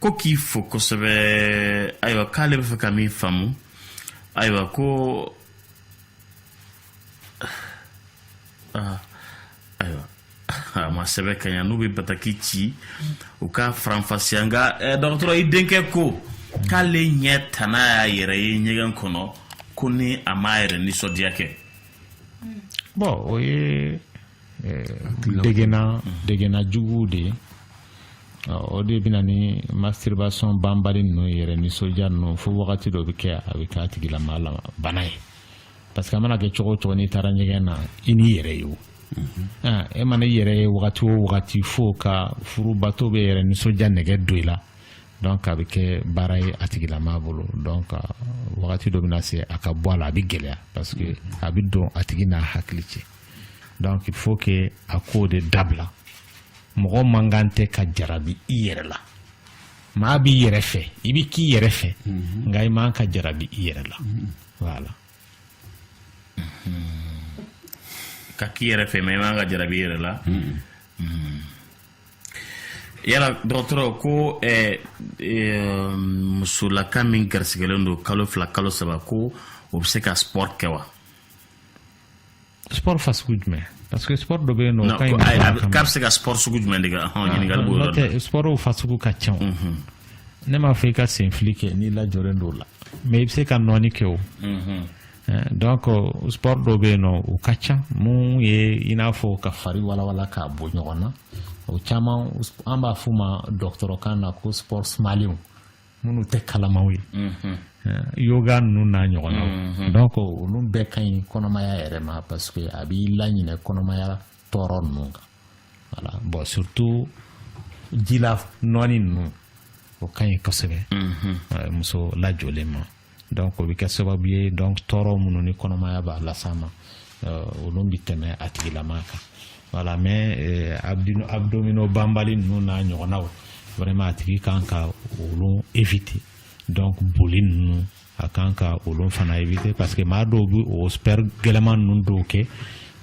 ko k'i fo kosɛbɛ ayiwa k'ale bɛ fɛ ka min faamu ayiwa ko ah, ayiwa a ma sɛbɛn ka ɲa n'u bɛ bataki ci u k'a faranfasiya nka eh, dɔgɔtɔrɔ i denkɛ ko k'ale ɲɛ tɛna y'a yɛrɛ ye ɲɛgɛn kɔnɔ ko ni a m'a yɛrɛ nisɔndiya kɛ bon o ye eh, degena degena jugu de ye o de bɛ na ni masturbation banbali ninnu yɛrɛ nisɔndiya ninnu fo wagati dɔ bɛ kɛ a bɛ k'a tigilamaa la bana ye parce que a mana kɛ cogo o cogo n'i taara ɲɛgɛn na i n'i yɛrɛ ye o e mana i yɛrɛ ye wagati o wagati fo ka furu bato bɛ yɛrɛ nisɔndiya nɛgɛ don i la donc a bɛ kɛ baara ye a tigilamaa bolo donc wagati dɔ bɛna se a ka bɔ a la a bɛ gɛlɛya parce que a bɛ don a tigi n'a hakili cɛ donc il faut que a k'o de dabila mɔgɔ man kan tɛ ka jarabi i yɛrɛ la maa b'i yɛrɛ fɛ i bɛ k'i yɛrɛ fɛ mhm. nka i man ka jarabi i yɛrɛ la mhm. voilà mhm. ka k'i yɛrɛ fɛ mais i man ka jarabi i yɛrɛ la yala dɔgɔtɔrɔ ko eh, eh, musolaka min garisigɛlen don kalo fila kalo saba ko o bɛ se ka sport kɛ wa sport fasugu jumɛn parce que sport dɔ bɛ yen nɔ k'a bɛ se ka sport sugu jumɛn de kɛ ɲininkali b'o yɔrɔ la sportw fasugu ka ca ne m'a fɔ i ka senfili kɛ n'i lajɔlen don o la mais i bɛ se ka nɔɔni kɛ o eh, donc sport dɔ bɛ yen nɔ o ka ca mun ye i n'a fɔ ka fari walawala k'a bɔ ɲɔgɔn na o caman an b'a f'u ma dɔgɔtɔrɔkan na ko sport sumalenw minnu tɛ kalamanw ye mhm. eh, yoga ninnu n'a ɲɔgɔnnaw mhm. donc olu bɛɛ ka ɲi kɔnɔmaya yɛrɛ ma parce que a b'i laɲinɛ kɔnɔmaya tɔɔrɔ ninnu kan voilà bon surtout jila nɔɔni ninnu o ka ɲi kosɛbɛ mhm. eh, muso lajɔlen ma donc o bɛ kɛ sababu ye donc tɔɔrɔ minnu ni kɔnɔmaya b'a las'a ma euh, olu bɛ tɛmɛ a tigilama kan voilà mais euh, abdominaux banbali ninnu n'a ɲɔgɔnnaw vraiment a tigi kan ka olu éviter donc boli ninnu a kan ka olu fana éviter parce que maa dɔw bɛ o sport gɛlɛman ninnu dɔw kɛ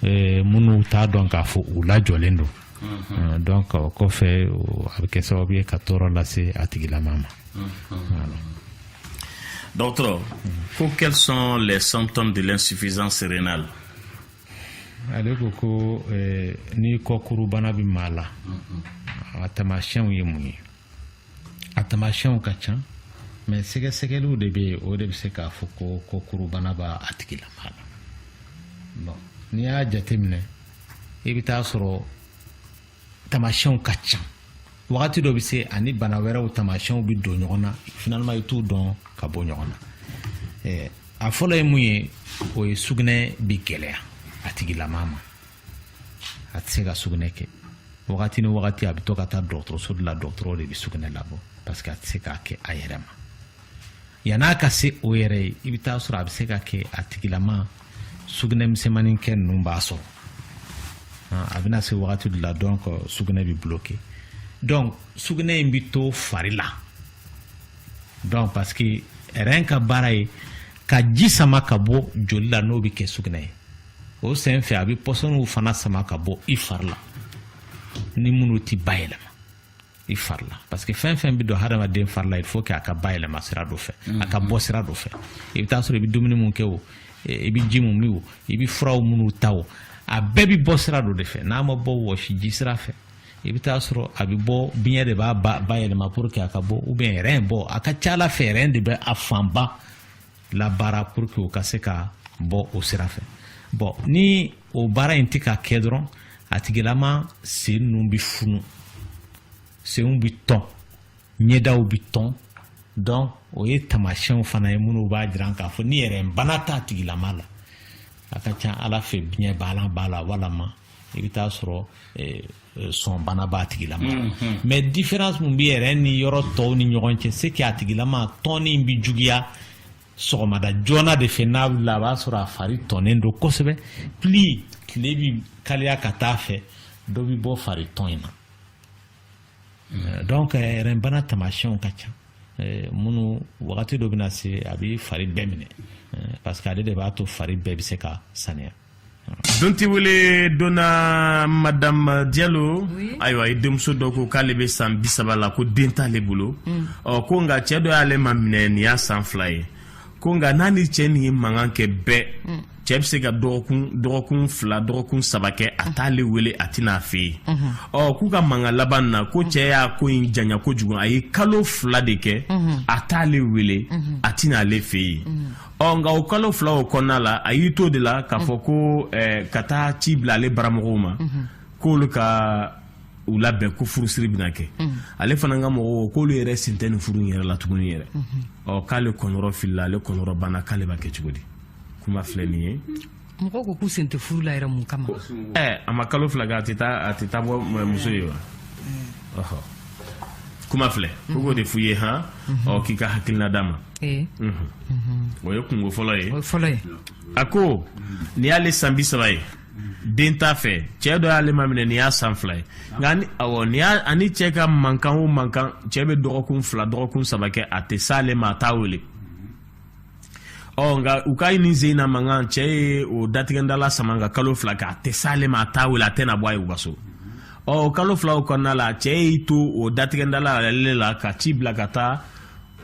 euh, minnu t'a dɔn k'a fɔ u lajɔlen don mhm. donc o kɔfɛ a bɛ kɛ sababu ye ka tɔɔrɔ lase a tigilama ma. Mhm. Dɔgɔtɔrɔ ko quels sont les symptômes de l'insuffisance rénale ale ko ko eh, ni kɔkurubana bɛ maa la a tamasiyɛnw ye mun ye a tamasiyɛnw ka ca mais sɛgɛsɛgɛliw de bɛ yen o de bɛ se k'a fɔ ko kɔkurubana b'a tigilama la bon n'i y'a jateminɛ i bɛ taa sɔrɔ tamasiyɛnw ka ca wagati dɔ bɛ se ani bana wɛrɛw tamasiyɛnw bɛ don ɲɔgɔn na finalement i t'u dɔn ka bɔ ɲɔgɔn na eh, a fɔlɔ ye mun ye o ye sugunɛ bɛ gɛlɛya a tigilama ma a tɛ se ka sugunɛ kɛ wagati ni wagati a bɛ to ka taa dɔgɔtɔrɔso de la dɔgɔtɔrɔ de bɛ sugunɛ labɔ parce que a tɛ se k'a kɛ a yɛrɛ ma yann'a ka se o yɛrɛ ye i bɛ taa sɔrɔ a bɛ se ka kɛ a tigilama sugunɛ misɛnmanin kɛ ninnu b'a sɔrɔ a bɛna se wagati de la donc sugunɛ bɛ bloqué donc sugunɛ in bɛ to fari la donc parce que rein ka baara ye ka ji sama ka bɔ joli la n'o bɛ kɛ sugunɛ ye o sen fɛ a bɛ pɔsɔniw fana sama ka bɔ i fari la ni minnu tɛ bayɛlɛma i fari la parce que fɛn fɛn bɛ don hadamaden fari la il faut que a ka bayɛlɛma sira dɔ fɛ a ka bɔ sira dɔ fɛ i bɛ taa sɔrɔ i bɛ dumuni mun kɛ o i bɛ ji mun min o i bɛ furaw minnu ta o a bɛɛ bɛ bɔ sira dɔ de fɛ n'a ma bɔ wɔsiji sira fɛ i bɛ taa sɔrɔ a bɛ bɔ biɲɛ de b'a ba bayɛlɛma pour que a ka bɔ ou bien rein bon a ka ca a la fɛ rein de bɛ a fanba labaara pour que o ka se ka bɔ o sira fɛ bon ni o baara in tɛ ka kɛ dɔrɔn a tigilama sen ninnu bɛ funu senw bɛ tɔn ɲɛdaw bɛ tɔn donc o ye tamasiyɛnw fana ye minnu b'a jira k'a fɔ ni rein bana t'a tigilama la a ka ca a la fɛ biɲɛbana b'a la walama i bɛ taa sɔrɔ eh, eh, sɔnbana b'a tigilama la mm, mm. mais différence min bɛ rein ni yɔrɔ tɔw ni ɲɔgɔn cɛ c'est que a tigilama tɔnni bɛ juguya sɔgɔmada joona de fɛ n'a wulila a b'a sɔrɔ a fari tɔnnen don kosɛbɛ plus tile bi kaliya ka taa fɛ dɔ bi bɔ fari tɔn in na euh, donc euh, rein bana tamasiyɛnw ka ca euh, minnu wagati dɔ bɛna se a bɛ fari bɛɛ minɛ parce que ale de b'a to fari bɛɛ bɛ se ka saniya donti wele donna madame Diallo ayiwa i denmuso dɔ ko k'ale bɛ san bisaba la ko den t'ale bolo mm. ɔ ko nka cɛɛ dɔ y'ale maminɛ nin y'a san fila ye ko nka n'a ni cɛɛ nin ye mankan kɛ bɛɛ mm. cɛɛ bɛ se ka dɔgɔkun dɔgɔkun fila dɔgɔkun saba kɛ a t'ale wele a tɛ na a fɛ yen mm-hmm. ɔ k'u ka mankan laban na ko mm. cɛɛ y'a ko in janya kojugu a ye kalo fila de kɛ mm-hmm. a t'ale wele mm-hmm. a tɛ na ale fɛ yen ɔ nka o kalo fila o kɔnɔna la a y'i to de la k'a fɔ ko eh, ka taa ci bila ale baramɔgɔw ma k'olu ka u labɛn ko furusiri bɛna kɛ ale fana ka mɔgɔw k'olu yɛrɛ sen tɛ nin furu in yɛrɛ la tuguni yɛrɛ ɔ k'ale kɔnɔrɔ filila ale kɔnɔrɔ banna k'ale b'a kɛ cogo di kuma filɛ nin ye mɔgɔw ko k'u sen tɛ furu la yɛrɛ mun kama ɛɛ a ma kalo fila kɛ a tɛ taa a tɛ taa bɔ muso ye wa ɔhɔ kuma filɛ ko k'o de f'u ye han ɔ k'i ka hakilina d'a ma o ye kungo fɔlɔ ye a ko nin y'ale san bi saba ye den t'a fɛ cɛ dɔ y'ale maminɛ nin y'a san fila ye nka ni awɔ nin y'a ani cɛ ka mankan o mankan cɛ bɛ dɔgɔkun fila dɔgɔkun saba kɛ a tɛ s'ale ma a t'a wele ɔ nka u ka nin sen na mankan cɛ ye o datigɛndala sama ka kalo fila kɛ a tɛ s'ale ma a t'a wele a tɛ na bɔ a ye u ka so ɔ kalo fila o kɔnɔna la cɛ y'i to o datigɛndala ale la ka ci bila ka taa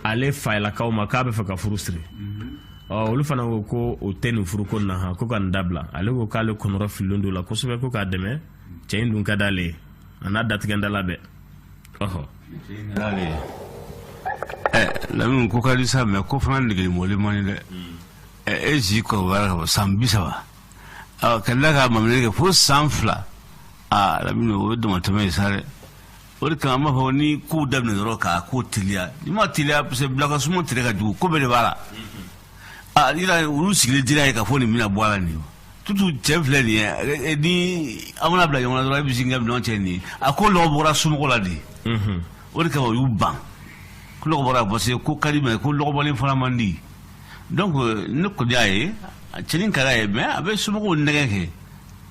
ale fayalakaw ma k'a bɛ fɛ ka furu siri ɔ olu fana ko ko o tɛ nin furu ko na han ko ka nin dabila ale ko k'ale kɔnɔrɔ fililen don la kosɛbɛ ko k'a dɛmɛ cɛ in dun ka d'ale ye a n'a datigɛndala bɛɛ ɔhɔ lamini ko ka di sa mais ko fana nege bɔlen man di dɛ e si kɔrɔbayara ka bɔ san bi saba ka tila ka maminɛli kɛ fo san fila aa lamini o ye damatɛmɛ ye sa dɛ o de kama an b'a fɔ ni kow daminɛ dɔrɔn k'a ko teliya n'i ma teliya parce que bilakasuma tigɛ ka jugu ko bɛɛ de b'a la Ah, yira olu sigilen dira ye k'a fɔ nin bɛna bɔ a la nin ye tutu cɛ filɛ nin ye eh, eh, ni an mana bila ɲɔgɔn na dɔrɔn e bɛ sin ka minɛn cɛ nin ye a ko lɔgɔ bɔra somɔgɔw la de mhm. o de kama u y'u ban ko lɔgɔ bɔra parce que ko ka di mais ko lɔgɔbɔlen fana man di donc ne kɔni y'a ye cɛnin ka d'a ye mais a bɛ somɔgɔw nɛgɛ kɛ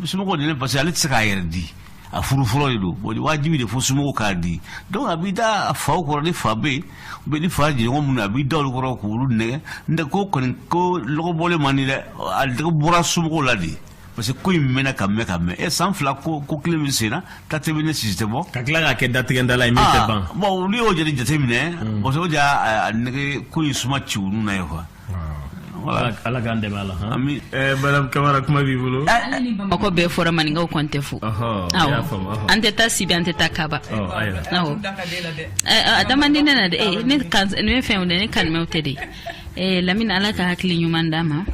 somɔgɔw de ne parce que ale tɛ se k'a yɛrɛ di a furu fɔlɔ de don bon wajibi de fo somɔgɔw k'a di donc a b'i da a faw kɔrɔ ni fa bɛ yen ou bien ni fa jɛɲɔgɔn minnu a b'i da olu kɔrɔ k'olu nɛgɛ n'o tɛ ko kɔni ko lɔgɔbɔlen man di dɛ a bɔra somɔgɔw la de parce que ko in mɛnna ka mɛn ka mɛn ɛ san fila ko ko kelen min senna ta tɛ mɛnɛ sisi tɛ bɔ ka tila k'a kɛ datigɛndala ye min tɛ ban bon olu y'o jate jateminɛ parce que o de y'a nɛgɛ ko in suma ci olu na ye quoi ala k'a dɛmɛ a la madame kamara kuma b'i bolo mɔgɔ bɛɛ fora maninkaw kɔni tɛ fo an tɛ taa sibi an tɛ taa kaba a da man di ne na dɛ ne ye fɛn dɛ ne kanimɛw tɛ de lamini ala ka hakili ɲuman d'a ma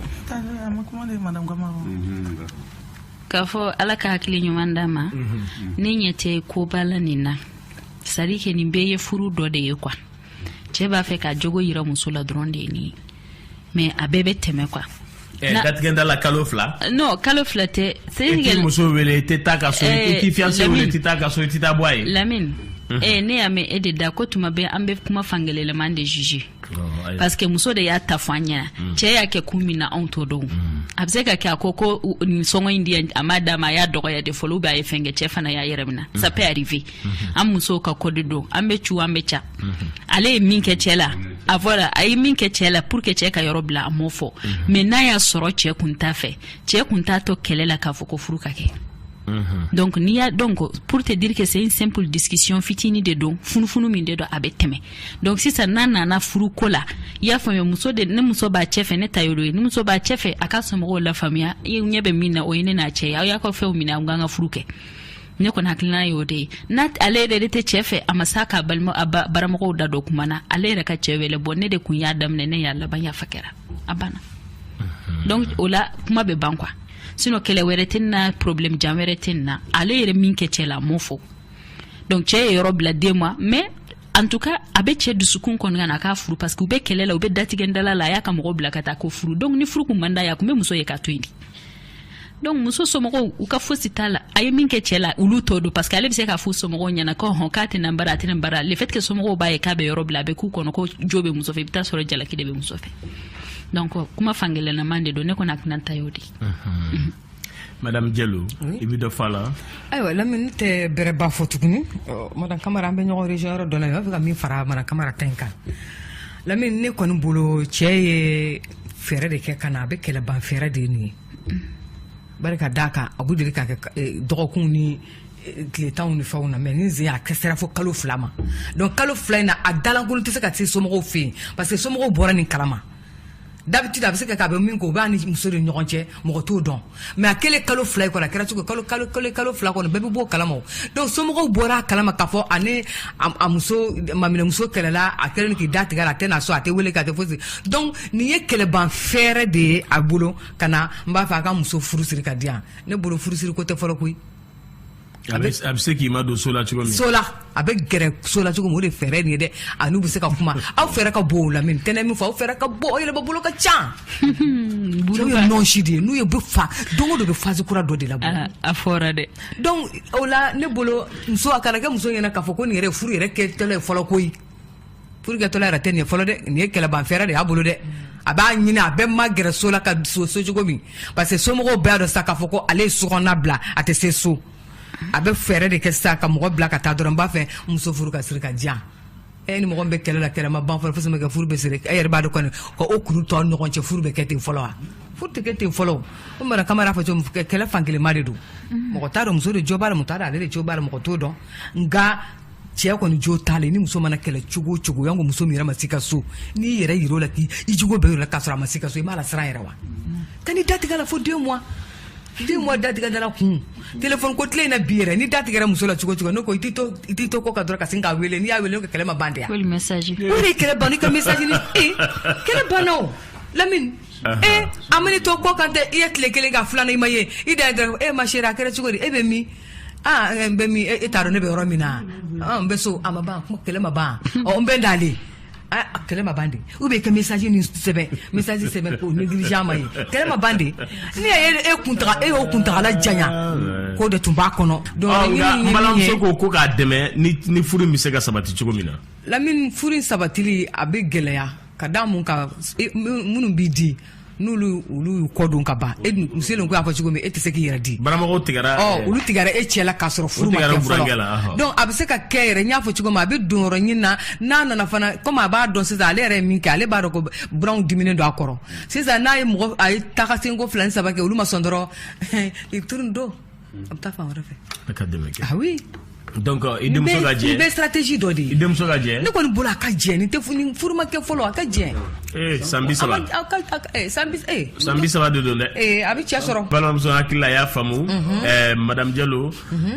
k'a fɔ ala ka hakili ɲuman d'a ma ne ɲɛ tɛ koba la nin na c'est-à-dire que nin bɛɛ ye furu dɔ de ye quoi cɛ b'a fɛ ka jogo yira muso la dɔrɔn de ye nin ye mais a bɛɛ bɛ tɛmɛ quoi eh, datigɛndala kalo fila eh, non kalo fila tɛ i tɛ muso wele i tɛ taa ka so i t'i fiancé wele i tɛ taa ka so i tɛ taa bɔ a ye lamini mhm. eh, ne y'a mɛn e de da ko tuma bɛɛ an bɛ kuma fankelenman de juger oh, parce que muso de y'a ta fɔ an ɲɛna mhm. cɛ y'a kɛ kun min na anw t'o dɔn mhm. a bɛ se ka kɛ a ko ko nin sɔngɔ in di a m'a d'a ma a y'a dɔgɔya de fɔlɔ ou bien a ye fɛn kɛ cɛ fana y'a yɛrɛ minɛ ça peut arriver an musow ka code don an bɛ cu an bɛ ca ale ye min kɛ cɛ la a voilà a ye min kɛ cɛ la pour que cɛ ka yɔrɔ bila a m'o fɔ mais n'a y'a sɔrɔ cɛ kun t'a fɛ cɛ kun t'a to kɛlɛ la k'a fɔ ko furu ka kɛ donc n'i y'a dɔn ko pour te dire que c'est une simple discussion fitini de don funufunu min de don a bɛ tɛmɛ donc sisan n'a nana furu ko la i y'a faamuya muso de ne muso b'a cɛ fɛ ne ta y'o ye ni muso b'a cɛ fɛ a ka somɔgɔw lafaamuya i ɲɛ bɛ min na o ye ne n'a cɛ ye aw y'a ka fɛnw minɛ an k'an ka furu kɛ ne kɔni hakilina y'o de ye n'a ale yɛrɛ de tɛ cɛɛ fɛ a ma sa k'a balima a baramɔgɔw da don kuma na ale yɛrɛ ka cɛɛ wele bɔ ne de kun y'a daminɛ ne y'a laban yafa kɛra a banna mhm. donc o la kuma bɛ ban quoi sinon kɛlɛ wɛrɛ tɛ na problème jan wɛrɛ tɛ na ale yɛrɛ min kɛ cɛ la a m'o fɔ donc cɛ ye yɔrɔ bila deux mois mais en tout cas a bɛ cɛ dusukun kɔnɔna k'a furu parce que u bɛ kɛlɛ la u bɛ datigɛndala la a y'a ka mɔgɔ bila ka taa ko furu donc ni furu kun man d'a ye a kun bɛ muso ye k'a to yen de donc muso somɔgɔw u ka fosi t'a la a ye min kɛ cɛɛ la olu t'o dɔn parce que ale be se k'a fɔ somɔgɔw ɲɛna ko hɔn k'a tɛ na bara a tɛ na bara le fait que somɔgɔw b'a ye k'a bɛ yɔrɔ bila a bɛ k'u kɔnɔ ko jo be muso fɛ i be t'a sɔrɔ jalaki de be muso fɛ donc kuma fankelennaman de don ne kɔni hakilina ta y'o de mhm. madame jalo i be dɔ f'a la ayiwa lamini ne tɛ bɛrɛba fɔ tuguni madame kamara an bɛ ɲɔgɔn rejoint yɔrɔ dɔ la i b'a fɛ ka min fara madame kamara ta in kan lamini ne kɔni bolo cɛɛ ye fɛɛrɛ de kɛ ka na a bɛ kɛlɛ ban fɛɛrɛ de ye nin ye bari ka d'a kan a b'u deli ka kɛ eh, dɔgɔkunw ni eh, tile tanw ni fɛnw na mais nin sen a kɛ sera fo kalo fila ma donc kalo fila in na a da lankolon tɛ se ka se somɔgɔw fɛ yen parce que somɔgɔw bɔra nin kalama d'habitude a bɛ se ka kɛ a bɛ min kɛ o b'a ni muso de ɲɔgɔn cɛ mɔgɔ t'o dɔn mais a kɛlen kalo fila ye kɔni a kɛra cogo kalo fila kɔni bɛɛ bɛ bɔ o kalama donc somɔgɔw bɔra a kalama k'a fɔ a ni a muso maminɛmuso kɛlɛla a kɛlen k'i da tigɛ a tɛ na so a tɛ weele k'a tɛ fosi donc nin ye kɛlɛban fɛɛrɛ de ye a bolo ka na n b'a fɛ a ka muso furu siri ka di yan ne bolo furusiri ko tɛ fɔlɔ koyi A bɛ se k'i madon so la cogo min so la a bɛ gɛrɛ so la cogo min o de fɛɛrɛ nin ye dɛ a n'u bɛ se ka kuma aw fɛɛrɛ ka bɔ o la mais tɛnɛn min fɔ aw fɛ ka bɔ aw yɛrɛ bolo ka ca ye si de ye n'u ye bɛ fa don o don bɛ fasi kura dɔ de labɔ a fɔra dɛ donc o la ne bolo muso a kana kɛ muso ɲɛna k'a fɔ ko nin yɛrɛ furu yɛrɛ kɛ ye fɔlɔ koyi furu kɛtɔla yɛrɛ tɛ nin fɔlɔ dɛ nin ye kɛlɛbanfɛɛrɛ de y'a bolo dɛ a b'a ɲini a bɛ magɛrɛ so la ka se so cogo min parce que somɔgɔw bɛɛ y'a dɔn sa k'a fɔ ko ale ye sokɔnɔna bila a tɛ se so a bɛ fɛɛrɛ de kɛ sa ka mɔgɔ bila ka taa dɔrɔn b'a fɛ muso furu ka siri ka di yan e ni mɔgɔ min bɛ kɛlɛ la kɛlɛ ma ban fɔlɔ fosi ma kɛ furu bɛ siri e yɛrɛ b'a dɔn kɔni ka o kuru tɔ ɲɔgɔn cɛ furu bɛ kɛ ten fɔlɔ wa furu tɛ kɛ ten fɔlɔ o mara kamara fɔ cogo kɛlɛ fankelenma de don mɔgɔ t'a dɔn muso de jo b'a la mɔgɔ t'a dɔn ale de jo b'a la mɔgɔ t'o dɔn nka cɛ kɔni jo t'a la ni muso mana kɛlɛ cogo o cogo yanko muso min yɛrɛ ma se ka so n'i yɛrɛ yir'o la k'i i jogo bɛɛ yir'o la k'a sɔrɔ a ma se ka so i b'a lasiran yɛrɛ wa ka n'i datigɛ la fo deux mois deux mois datigɛ dala kun telefɔni ko tile in na bi yɛrɛ n'i datigɛra muso la cogo o cogo ne ko i t'i to i t'i to kɔ kan dɔrɔn ka sin k'a wele n'i y'a wele ne ko kɛlɛ ma ban de yan Ko le message. o de ye kɛlɛ ban i ka message ni e kɛlɛ banna o lamini e a man'i to kɔ kan tɛ i ye tile kelen ka filanan i ma ye i da ye dɔrɔn e ma chérie a kɛra cogo di e bɛ min aa n bɛ min e t'a dɔn ne bɛ yɔrɔ min na ɔ n bɛ so a ma ban kuma kɛlɛ ma ban ɔ n bɛ n dalen a kɛlɛ ma ban de ou bien ka message ni sɛbɛn message sɛbɛn k'o négliger a ma ye kɛlɛ ma ban de ne ye e kuntaga e y'o kuntagala janya k'o de tun b'a kɔnɔ donc Ɔ, nka laɲini ye min ye- balimamuso ko ko k'a dɛmɛ ni ni furu in bɛ se ka sabati cogo min na lamini furu in sabatili a bɛ gɛlɛya ka da mun kan e- min- minnu b'i di n'olu olu y'u kɔ don ka ban e dun u selen ko y'a fɔ cogo min e tɛ se k'i yɛrɛ di baramɔgɔw tigɛra ɔ ɛɛ, olu tigɛra e cɛ la k'a sɔrɔ furu ma tigɛra kɛ burankɛ la, fɔlɔ ahɔ. donc a bɛ se ka kɛ yɛrɛ n y'a fɔ cogo min a bɛ donyɔrɔ ɲinina n'a nana fana komi a b'a dɔn sisan ale yɛrɛ ye min kɛ ale b'a dɔn ko buranw diminen don a kɔrɔ sisan n'a ye mɔgɔ a ye tagasenko fila ni saba kɛ olu ma sɔn dɔrɔn i turu don a bɛ taa fan wɛrɛ fɛ a ka dɛmɛ kɛ ah oui donc euh, i denmuso ka jɛ nin bɛɛ stratégie dɔ de ye i denmuso ka jɛ ne kɔni bolo a ka jɛ nin tɛ fu- nin furu ma kɛ fɔlɔ a ka jɛ ee san bi a saba ma- a ka a ka- eh, san bi eh, san bi saba de don dɛ eh, a bɛ cɛ sɔrɔ balimamuso hakili la a y'a faamu ɛɛ madame jalo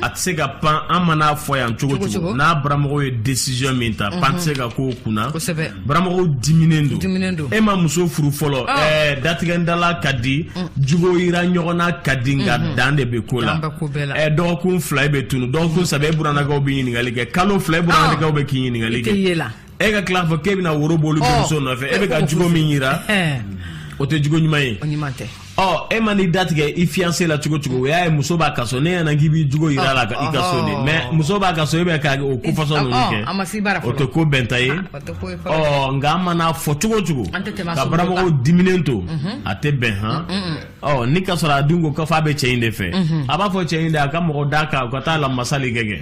a tɛ se ka pan an mana fɔ yan cogo Cogo cogo cogo. n'a baramɔgɔw ye décision min ta pan tɛ se ka k'o kunna Kosɛbɛ. baramɔgɔw diminen don diminen don e ma muso furu fɔlɔ ah. ɛɛ datigɛndala ka di mm. jugo yira ɲɔgɔn na ka di nka mm-hmm. dan de bɛ ko la ɛɛ dɔgɔkun fila e bɛ tunu dɔgɔkun saba e buranakaw bɛ ɲininkali kɛ kalo fila e buranakaw ah. bɛ k'i ɲininkali kɛ e ka tila k'a fɔ k'e bɛna woro bɔ olu denmuso nɔfɛ e bɛ ka jugo min yira eh. o tɛ jugo ɲuman ye ɔ e man'i datigɛ i fiyanse la cogo cogo o y'a ye muso b'a ka so ne ɲɛna k'i b'i jogo yir'a la i ka so de mais muso b'a ka so e bɛ ka o ko fasɔn ninnu kɛ o tɛ ko bɛnta ye ɔ nka an mana fɔ cogo cogo ka baramɔgɔw diminen to mhm. a tɛ bɛn han mm, mm, mm. ɔ ni ka sɔrɔ a dun ko k'a fɔ a bɛ cɛ in de fɛ mhm. a b'a fɔ cɛ in de a ka mɔgɔ d'a kan u ka taa lamasali kɛ kɛ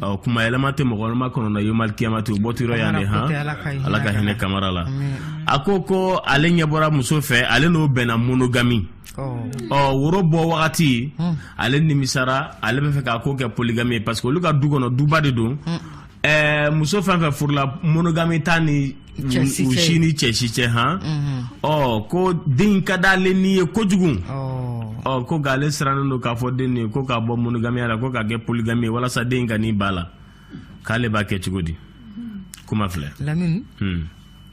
Ɔ kuma yɛlɛma tɛ mɔgɔma kɔnɔna yomal kiyamati o bɔ yan de h ala ka hinɛ kamara la a ko ko ale ɲɛ bɔra muso fɛ ale n'o bɛnna monogami ɔ woro bɔ wagati ale nimisara ale bɛ fɛ k'a ko kɛ poligami parce que olu ka du kɔnɔ duba de don muso fɛn fɛn furula monogami t'a ni u si ni cɛ si cɛ han ɔ ko den ka di ale ni ye kojugu ɔ ko nka ale sirannen don k'a fɔ den nin ye ko k'a bɔ monogamiya la ko k'a kɛ poligami ye walasa den kan'i ban a la k'ale b'a kɛ cogo di kuma filɛ lamini hmm.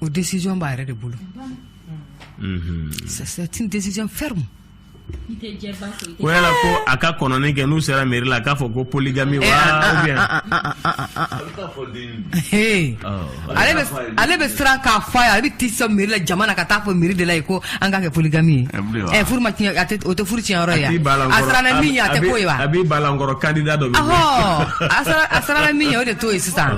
o décision b'a yɛrɛ de bolo c'est une décision ferme ko yala ko a ka kɔnɔni kɛ n'u sera meri la a k'a fɔ ko poligami wa ale bɛ siran k'a f'a ye ale bɛ t'i sɔn meri la jama na ka taa fɔ meri de la ye ko an k'a kɛ poligami ye furu ma tiɲɛ o tɛ furu tiɲɛ yɔrɔ ye a siranna min ye a tɛ k'o ye wa a b'i balankɔrɔ kandida dɔ bɛ a siranna min ye o de t'o ye sisan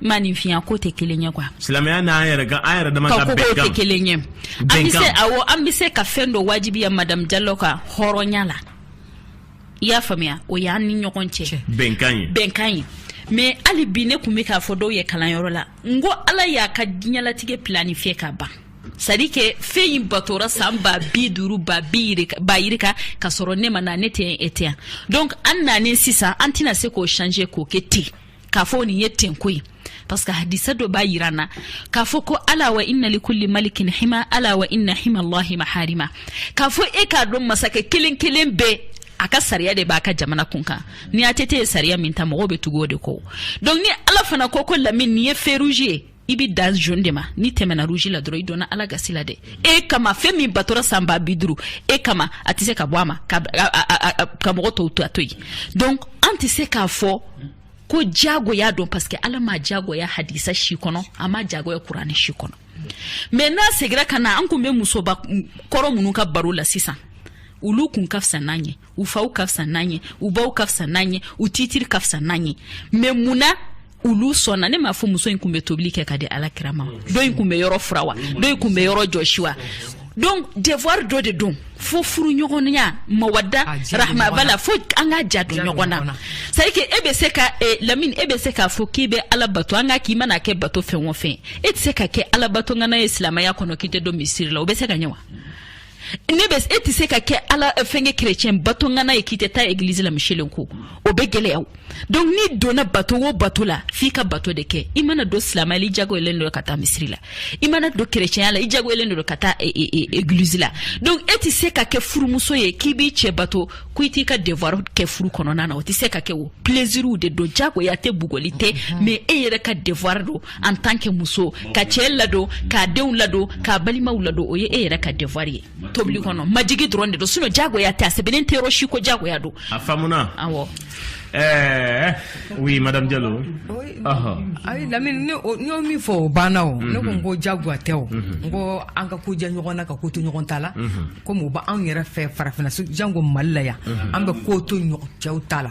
maninfinya ko tɛ kelen ye quoi silamɛya n'an yɛrɛ ka an yɛrɛ dama ka bɛnkan tɛ kelen ye an bɛ se awɔ an bɛ se ka fɛn dɔ wajibiya madamu jalo ka hɔrɔnya la i y'a faamuya o y'an ni ɲɔgɔn cɛ bɛnkan ye bɛnkan ye mais hali bi ne tun bɛ k'a fɔ dɔw ye kalanyɔrɔ la n ko ala y'a ka diɲɛlatigɛ planifier ka ban c'est à dire que fɛn in batora san ba bi duuru ba bi ba yirika ka sɔrɔ ne ma na ne tɛ e tɛ yan donc an nanen sisan an tɛna se k'o changer k'o kɛ ten k'a fɔ nin ye tenko ye parce que hadisa dɔ b'a yir'an na k'a fɔ ko ala wa inna li kulli malikin hima ala wa inna hima allahi maharima k'a fɔ e k'a dɔn masakɛ kelen kelen bɛɛ a ka sariya de b'a ka jamana kun kan ni ATT ye sariya min ta mɔgɔw bɛ tugu o de kɔ donc ni ala fana ko ko lamini nin ye feu rouge ye i bɛ dan jaune de ma n'i tɛmɛna rouge la dɔrɔn i donna Ala gasi la dɛ e kama fɛn min batɔra san ba bi duuru e kama a tɛ se ka bɔ a ma ka ka mɔgɔ tɔw to a to yen donc an tɛ se k'a fɔ ko diyagoya don parce que Ala ma diyagoya hadisa si kɔnɔ a ma diyagoya kurani si kɔnɔ mais n'a segira ka na an tun bɛ musoba kɔrɔ minnu ka baro la sisan olu kun ka fisa n'an ye u faw ka fisa n'an ye u baw ka fisa n'an ye u titiri ka fisa n'an ye mais mun na olu sɔnna ne m'a fɔ muso in kun bɛ tobili kɛ ka di ala kira ma dɔ in kun bɛ yɔrɔ furan wa dɔ in kun bɛ yɔrɔ jɔsi wa donc devoir dɔ de don fo furu ɲɔgɔnya mawadda rahma b'a la fo an ka ja don ɲɔgɔn na c'est que e bɛ se ka eh, lamini e bɛ se k'a fɔ k'i bɛ ala bato nka k'i mana kɛ bato fɛn o fɛn e tɛ se ka kɛ ala bato ŋana ye silamɛya kɔnɔ k'i tɛ don misiri la o bɛ se ka ɲɛ wa ne bɛ e tɛ se ka kɛ ala eh, fɛnkɛ kerecɛn bato ŋana ye k'i tɛ taa egilizi la miselen ko o bɛ gɛlɛya donc n'i donna bato o bato la f'i ka bato de kɛ i mana don silamɛya la i jagoyalen don ka taa misiri la i mana don kerecɛnya la i jagoyalen don ka taa eh, eh, egilizi la donc e tɛ se ka kɛ furumuso ye k'i b'i cɛ bato ko i t'i ka devoir kɛ furu kɔnɔna na o tɛ se ka kɛ o plaisir de don jagoya tɛ bugɔli tɛ mhm. mais e yɛrɛ ka devoir don en tant que muso ka cɛ ladon k'a denw ladon k'a balimaw ladon o ye e yɛrɛ ka devoir ye tobili kɔnɔ majigi dɔrɔn de don sinon jagoya tɛ a sɛbɛnnen tɛ yɔrɔ si ko jagoya don a faamuna awɔ Eh, oui madame Diallo ayi Lamine ne y'o min fɔ o banna o ne ko n mhm. ko jagoya tɛ o mhm. n ko an ka ko jɛ ɲɔgɔn na ka ko to ɲɔgɔn ta la mhm. komi o b'anw yɛrɛ fɛ farafinna jango Mali la yan an bɛ ko to cɛw ta la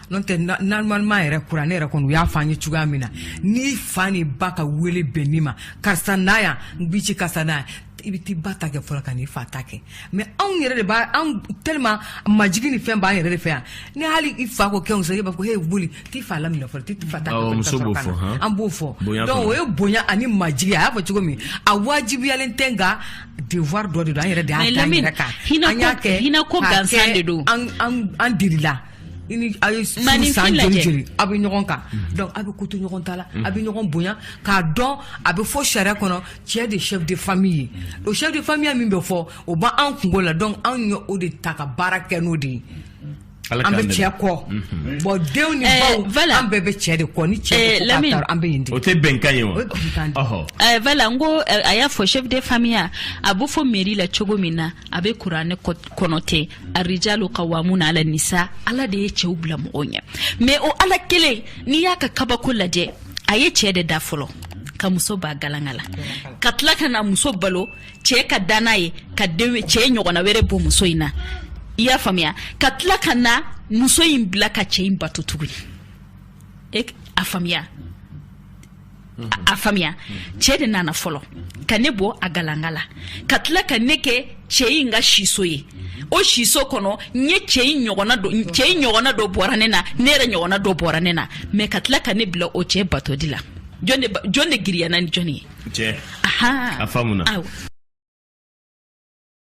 n'o tɛ normalement yɛrɛ kuranɛ yɛrɛ kɔnɔ u y'a fɔ an ye cogoya min na n'i fa ni ba ka wele bɛnni ma karisa na yan n b'i ci karisa na yan i bɛ t'i ba ta kɛ fɔlɔ ka n'i fa ta kɛ mais anw yɛrɛ de b'a anw tellement majigi ni fɛn b'an yɛrɛ de fɛ yan ni hali i fa ko kɛ muso ye b'a fɔ he boli t'i fa laminɛ fɔlɔ t'i fa ta kɛ muso b'o fɔ han an b'o fɔ donc o ye bonya ani majigi a y'a fɔ cogo min a wajibiyalen tɛ nka devoir dɔ de don an yɛrɛ de y'a da an yɛrɛ kan an y'a kɛ hinɛ ko gansan de don an an an delila i ni a ye furu Maninfin san lajɛ. joli joli aw bɛ ɲɔgɔn kan donc aw bɛ ko to ɲɔgɔn ta la aw bɛ ɲɔgɔn bonya k'a dɔn a bɛ fɔ sariya kɔnɔ cɛ de chef de famille ye o chef de famille min bɛ fɔ o b'an an kungo la donc anw ye o de ta ka baara kɛ n'o de ye Ala an k'an bɛ dɛmɛ. cɛ kɔ bon denw ni Eh, baw voilà. an bɛɛ bɛ cɛ de kɔ ni cɛ Eh, bɛ ko k'a Lamine. taara an bɛ yen de o tɛ bɛnkan ye wa o ye bɛnkan de ye. Ɔhɔ. Eh, voilà n ko eh, a y'a fɔ chef de famille a b'o fɔ mairie la cogo min na a bɛ kuranɛ kɔ- kɔnɔ ten arijalu kawamuna ala nisa ala de ye cɛw bila mɔgɔw ɲɛ mais o ala kelen n'i y'a ka kabako lajɛ a ye cɛ de da fɔlɔ ka muso b'a galanga la ka tila ka na muso balo cɛ ka danna ye ka cɛ ɲɔgɔnna wɛrɛ bɔ muso in na i y'a faamuya ka tila ka na muso in bila ka cɛ in bato tuguni e a faamuya a faamuya cɛ de nana fɔlɔ ka ne bɔ a galanga la ka tila ka ne kɛ cɛ in ka siso ye o siso kɔnɔ n ye cɛ in ɲɔgɔnna dɔ cɛ in ɲɔgɔnna dɔ bɔra ne na ne yɛrɛ ɲɔgɔnna dɔ bɔra ne na mais ka tila ka ne bila o cɛ batoli la jɔn de jɔn de girinyana ni jɔn ye cɛ ahan a faamuna awɔ